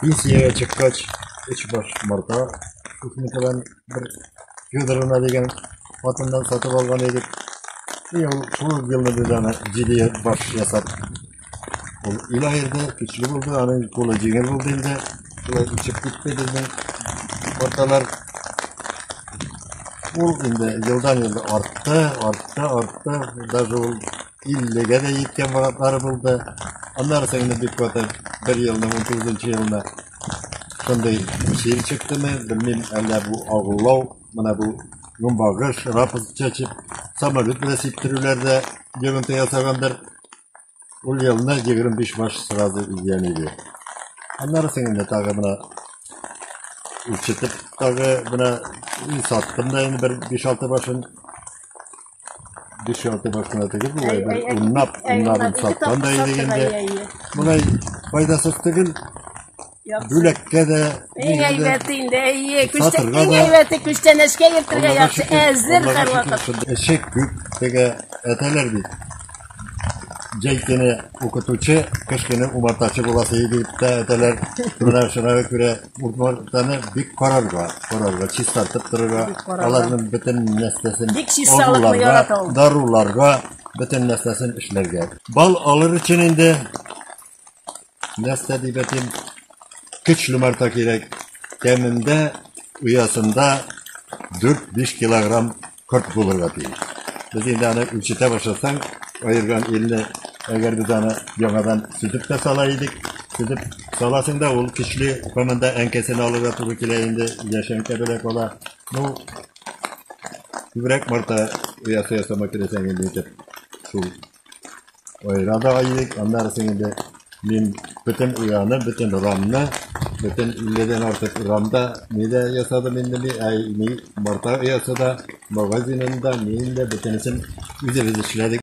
Пенсиягә чыккач, өч баш марта Кухникадан бер Федоровна дигән хатыннан сатып алган идек. И ул шул елны без аны җиде баш ясап. Ул ила ирде, көчле булды, аның кулы җиңел булды инде. Шулай үсеп китте безнең марталар. Ул инде елдан-ел артты, артты, артты. Даже ул 50-гә дә җиткән вакытлары булды. Аннары соң инде бик каты бер елның 19 елында шундый чир чыктымы, белмим, әллә бу агулау, менә бу гөмбагыш, рапс чәчеп, самолет белән сиптерүләр дә йогынты ясагандыр. Ул елны 25 баш сразу изгән иде. Аннары соң инде тагы менә ишетеп тагы менә и саттым да инде бер 5-6 башын. Дешевле башына тегел болай бер уннап, уннап саткан да иде инде. Болай файдасыз түгел. Бүләккә дә иң әйбәте инде әйе, күчтән иң әйбәте күчтән эшкә йөртергә яхшы әзер һәрвакыт. Эшек күп, теге әтәләр бит. Җәй көне укытучы, кыш көне умартачы буласы иде дип тә әйтәләр. Менә шуңа күрә умартаны бик карарга, карарга, чистартып торырга, аларның бөтен нәрсәсен, Бик чисталыкны агуларга, ярата ул. даруларга, бөтен нәрсәсен эшләргә. Бал алыр өчен инде Нәрсә дип әйтим? Көч ломарта кирәк. Кәмендә оясында 4-5 килограмм корт булырга тиеш. Без инде аны үлчәтә башласаң, аерган илне әгәр без аны яңадан сүтеп тә сала идек, сүтеп саласың да ул көчле команда әнкәсен алырга туры килә инде, яшәнкә беләк ала. Ну, күбрәк марта оясы ясама керәсәң инде итеп. Шул Ояда айдык, аннары сеңде мин бөтен ояны, бөтен рамны, бөтен 50-дән артык рамда нидә ясадым инде ни, ә ни марта оясы да, магазинында, миндә бөтенесен үзебез эшләдек.